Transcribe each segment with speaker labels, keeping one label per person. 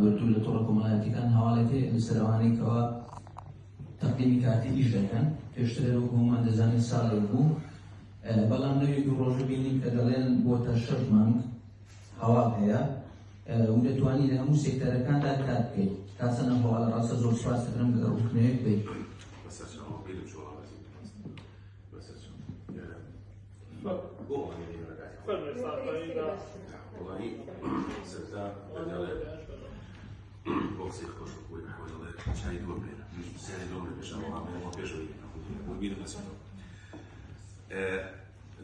Speaker 1: دوور لە تۆڕە کۆمەڵایەتیەکان هەواڵێک هەیە لەسەر ئەوانەی کەوا تەقدیمی کارتی ئیش دەکەن پێشترە وەکو هەمووان دەزانین ساڵێک بوو بەڵام لەوێ دوو ڕۆژە بینیم کە دەڵێن بۆتە شەش مانگ هەواڵ هەیە و دەتوانین لە هەموو سێکتەرەکاندا کار بکەیت کاسەنە هەواڵە ڕاستە زۆر سپاس دەکەم گەر ڕوخنەیەک بێت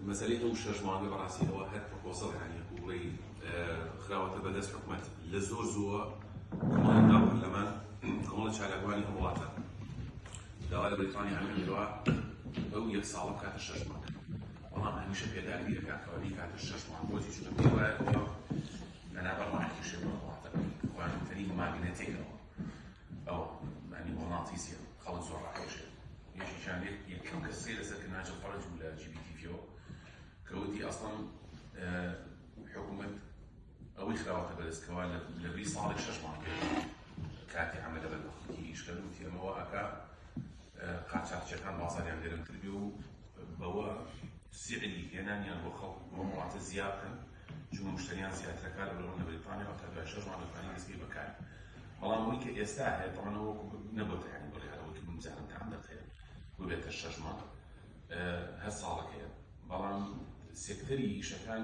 Speaker 2: مەسەلەی ئەو شەش مانگە بەڕاستیەوە هەر پرۆسە هەیە بڵێ خراوەتە بەدەست حکومەت لە زۆر زووە لەمان کۆمەڵە چالاکوانی هەوڵاتە داوا لە بەریتانیا ئەوەی کردووە ئەو یەک ساڵە بکاتە شەش مانگ، بەڵام هەمیشە پێداگری دەکات کەوا بیکاتە شەش مانگ، بۆچی؟ چونکە پێی وایە ترامپ لەنابەر ڕاکێشێ بۆ وڵاتەکەی، گرانترین ماگنەتێکەوە ئەوە مانی مۆناتیسیە، خەڵک زۆر ڕاکێشێ. یەکێکیان لێ یەکەم کەس سەیر لەسەر کە ناجل فەرەج بوو لە جی بی تی ڤییەوە کە وتی ئەسڵەن حکومەت ئەوەی خراوەتە بەرز کەوا لە بری ساڵێک شەش مانگ کاتی عەمەلە بەر بە خەڵکی ئیش کەن وتی ئەمە وا ئەکا قاچاخچیەکان بازاریان گەرمتر بێ و بەوە سیعری هێنانیان بۆ خەڵک بۆ وڵاتە زیاد بکەن چون مشتریان زیاترەکە لە بەرەوە لە بەریتانیا تا دوای شەش مانگ دەتوانین دەستپێ بەکار بەڵام ئەوەی کە ئێستا هەیە دەڵێن وەکو نەبووتە یانی بڵێ هەرەوەی کە بزانم کە عەمەت هەیە ببێتە شەش مانگ هەر ساڵەکەیە بەڵام سێکتەری ئیشەکان